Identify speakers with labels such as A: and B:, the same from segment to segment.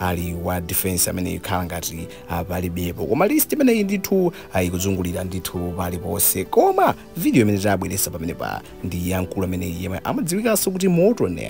A: ali wa defense amene ikhala ngati ah, palibepo koma list imeneyi ndithu ah, ikuzungulira ndithu paliponse koma video imene tabweresa pamenepa ndi ya mkulu amene yemwe amadziwikanso kuti morton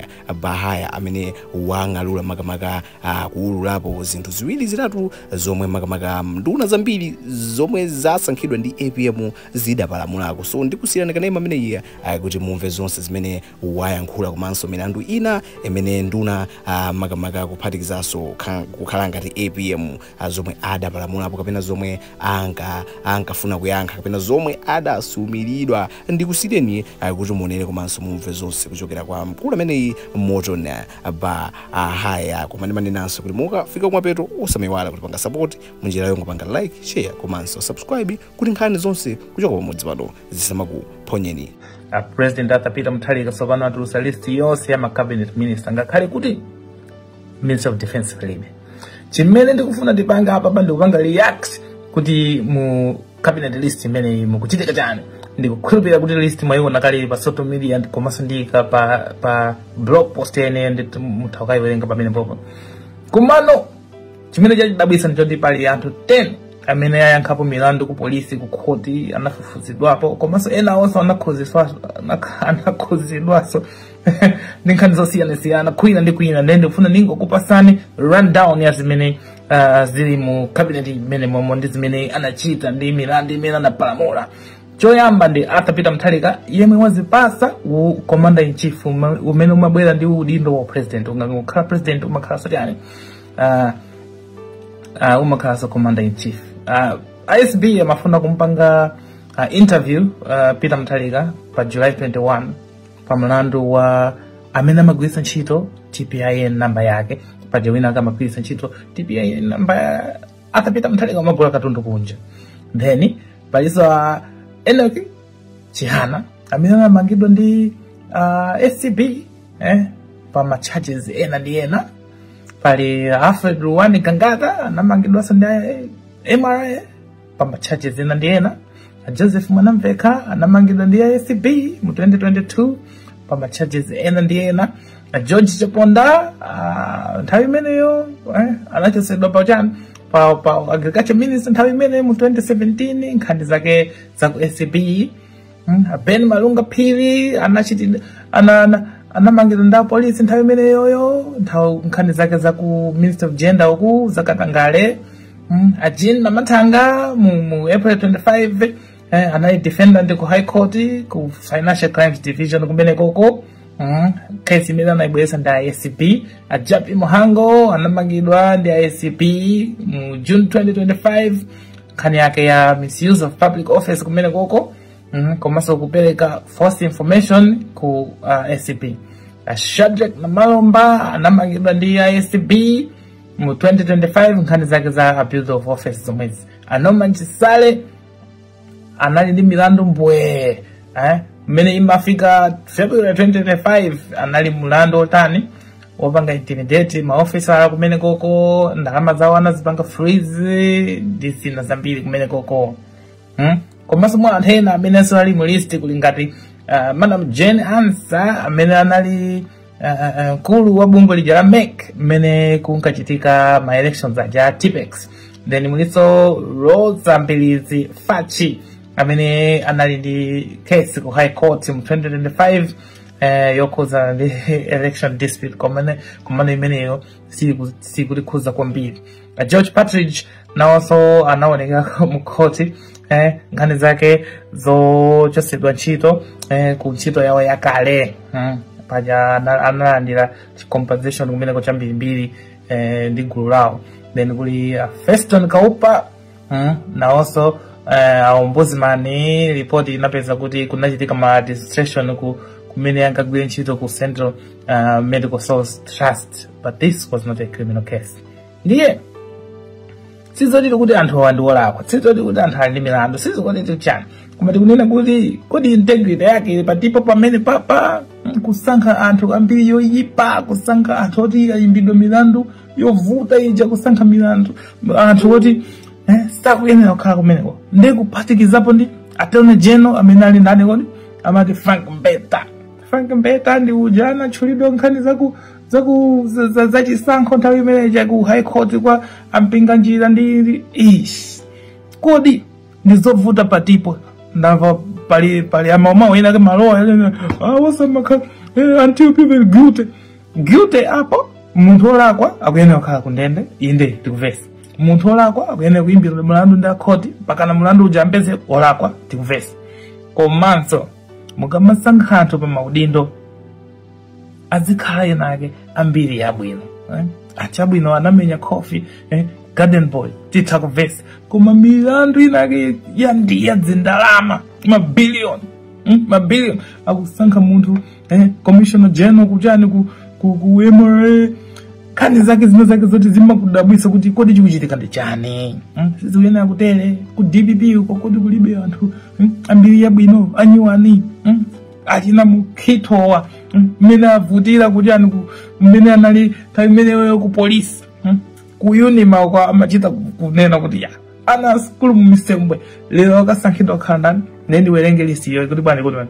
A: baghaya amene wang'alula makamaka ah, kuululapo zinthu ziwiri zitatu zomwe makamaka nduna zambiri zomwe zasankhidwa ndi apm zidapalamulako so ndikusiyirani kanema ameneyi ah, kuti mumve zonse zimene wayankhula komanso milandu ina imene nduna ah, makamaka kuphatikizanso kha- kukhala ngati apm ah, zomwe adapalamulapo kapena zomwe anka ankafuna kuyankha kapena zomwe adasumiridwa ndikusiyireni ah, kuti muonere komanso mumve zonse kuchokera kwa mkulu ameneyi morton ah, ba ah, haya koma ndimanenanso kuti mukafika kumapeto osamaiwala kutipanga support munjira yongopanga like share komanso subscribe kuti nkhani zonse kuchoka pamudzi pano zisamakuphonyeni a
B: president arthur peter mutharika tsopano atulutsa list yonse ya ma cabinet minister ngakhale kuti minister of defense palibe chimene ndikufuna ndipange apapa ndikupanga react kuti mu cabinet list imeneyi mukuchitika chani ndikukhulupirira kuti list mwayiona kale pa social media ndi- komanso ndiyika pa pa blog post yene ndi mutha kukayiwerenga pamenepopo komano chimene chandidabwitsa ndichoti pali anthu 10 amene ayankhapo milandu ku polisi ku khoti anafufuzidwapo komanso ena onse anakhuziswaso anakhuzidwaso ndi nkhani zosiyanasiyana kwina ndi kwina ndiye ndikufuna ndingokupasani rundown ya zimene uh, zili mu cabinet imene momo ndi zimene anachita ndi milandu imene anapalamula choyamba ndi arthur peter mutharika yemwe wazipasa u commander in chief uma- umene umabwera ndi udindo wa president ukakhala president umakhala sotani uh, uh, umakhalanso commander in chief uh, acb amafuna kumpanga uh, interview uh, peter mutharika pa july 21 pa mlandu wa amene amagwiritsa ntchito tpin namba yake paja wina ake amagwiritsa ntchito tpin namba ya arthur peter mutharika amagula katundu kunja then palinso uh, enock chihana amene anamangidwa ndi uh, acb eh, pa ma charges ena ndi ena pali alfred ruwan gangata anamangidwanso ndi eh, mra pa ma charges ena ndi ena joseph mwanamveka anamangidwa ndi acb mu 2022 pa ma charges ena ndi ena a george chaponda ah, nthawi imeneyo eh, anachosedwa pa chani pa, pa agriculture minister nthawi imeneyo mu 2017 nkhani zake za ku acb Mm, ben malunga phiri anachitidwa ana, ana, anamangidwa ndi apolisi nthawi imeneyoyo nthawi nkhani zake za ku ministry of gender uku zakatangale mm, a jean mathanga mu, mu april 25 eh, anali defendant ku high court ku financial crimes division kumenekoko mm, kesi imene anayibweretsa ndi acb a jappie mhango anamangidwa ndi acb mu june 2025 nkhani yake ya misuse of public office kumene koko mm, komanso kupereka false information ku uh, acb uh, shadric namalomba anamangidwa ndi acb mu 2025 nkhani zake za abuse of office zomwezi a norman chisale anali ndi milandu mbwe eh? mmene imafika february 2025 anali mlandu otani wopanga intimidate maofisa kumene koko ndalama zawo anazipanga freeze ndi zina zambiri kumene koko hmm? komanso mwa anthu ena amenenso ali mu list kuli ngati uh, madam jane ansah amene anali uh, mkulu wa bungwe lija la mec mmene kunkachitika ma elections aja tippex then mulinso roza mbilizi fatch amene anali ndi case ku high court mu 2025 eh, yokhudzana ndi election dispute komano imeneyo siku- sikutikhudza kwambiri Eh, george partridge nawonso anaonekera mkhoti eh, nkhani zake zochotsedwa ntchito eh, ku ntchito yawo yakale mm. paja ana- analandira compensation kumeneko cha mbirimbiri eh, ndi gulu lawo then kuli uh, feston kaupa mm, nawonso uh, aombudsman ripoti inapeza kuti kunachitika maladministration ku kumene ankagwira ntchito ku central uh, medical stores trust but this was not a criminal case ndiye sizoti kuti anthu awa ndi olakwa sizoti kuti anthu ali ndi milandu sizoti chani koma tikunena kuti kodi integrity yake ili pati po pamene papa kusankha anthu a mbiri yoyipa kusankha anthu oti ayimbidwa milandu yovuta ija kusankha milandu anthu oti eh, sakuyenera kukhala kumeneko ndi kuphatikizapo ndi attorney general amene ali ndani kodi amati frank mbeta frank mbeta ndi uja anatchulidwa nkhani zaku zaku za- za- zachisankho nthawi imene ija ku high court kwa a mpinganjira ndi ish kodi ndizovuta pati po ndamva pali pali mawu amayankhula maloya aja osamakha until proven guilty guilty apo munthu olakwa akuyenera kukhala ku ndende inde tikuvesa munthu olakwa akuyenera kuyimbidwa mulandu ndi akhoti mpakana mulandu uja ampeze olakwa tikuvesa komanso mukamasankha anthu pa maudindo azikhala ena ake ambiri yabwino eh? achabwino anamenya khofi eh? garden boy titha kuvesa koma milandu inake yandiya zindalama mabiliyoni mm? mabiliyoni akusankha munthu eh, commissioner general kuchani ku, ku, ku mra nkhani zake zina zake zoti zimakudabwisa kuti kodi chikuchitika ndi chani hmm? sizikuyenera kutere ku dpp uko kodi kulibe anthu hmm? ambiri yabwino anyiwani hmm? achina mukhitowa hmm? mmene avutira kuti ani ku- mmene anali nthawi imeneyo ku polisi hmm? ku unima uko amachita ku- kunena kuti ya ana asukulu mu misembwe lero akasankhidwa kukhala ndani nde ndiwerenge list iyo kuti bwani kuti bwani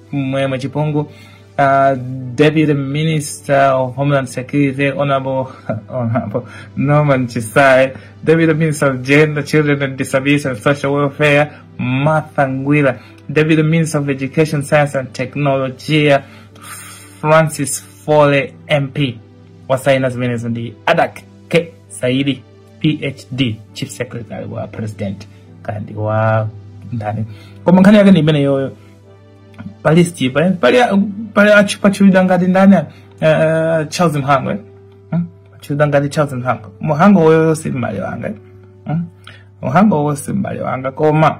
B: Mwema Chipungu, uh, Deputy Minister of Homeland Security, Honorable, Honorable Norman Chisai, Deputy Minister of Gender, Children and Disabilities and Social Welfare, Martha Ngwira, Deputy Minister of Education, Science and Technology, Francis Fole MP, wasaina zimenezo ndi Adak K. Saidi, PhD, Chief Secretary wa President, kandi wa ndani. Koma nkhani yake ndi imeneyoyo. pa listipa eh? pali pali achi pachulidwa ngati ndani eh, eh, charles mhango eh? hmm? pachulidwa ngati charles mhango mhango woyoyo si m'bale wanga eh? hmm? mhango wowo si m'bale wanga koma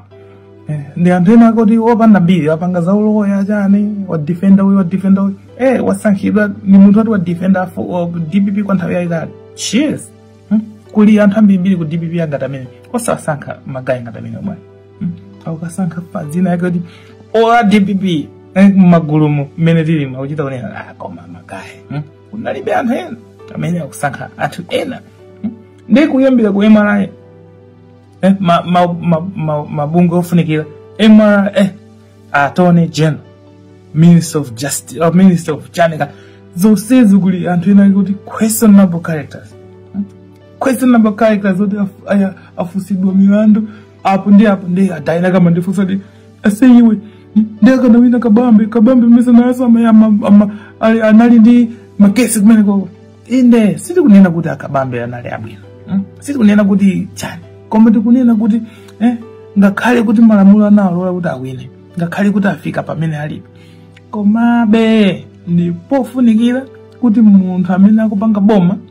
B: eh, ndi anthu ena akuti opanda mbiri wapanga za uloya chani wadifenda uyu wadifenda uyu eh, wasankhidwa ni munthu ati wadifenda afu- wa dpp kwa nthawi yayitali cheers hmm? kuli anthu ambirimbiri ku dpp angati amene osawasankha magayi ngati amene omwe aukasankha pa dzina yake kuti ola dpp eh, mmagulumu mmene tilimu kuchita kunena "Ah, koma magayi hmm? kunalibe anthu ena amene akusankha anthu ena hmm? ndi kuyambira ku mra eh, ma, ma, ma, ma, mabungwe ofunikira mra eh, attorney general minister of justice or minister of chanika zonsezi kuli anthu ena kuti questionable characters hmm? questionable characters oti af- aya- afusidwa milandu apo ndi apo ndi ada ena akamandifunsa ndi ase iwe nde akanawina kabambe kabambe mesa nayeso ama- ama- ama- ali- anali ndi makesi kumenekoko inde sitikunena kuti akabambe anali abwino mm? sitikunena kuti chani koma tikunena kuti eh, ngakhale kuti malamulo analola kuti awine ngakhale kuti afika pamene alipo komabe ndipofunikira kuti munthu amene akupanga boma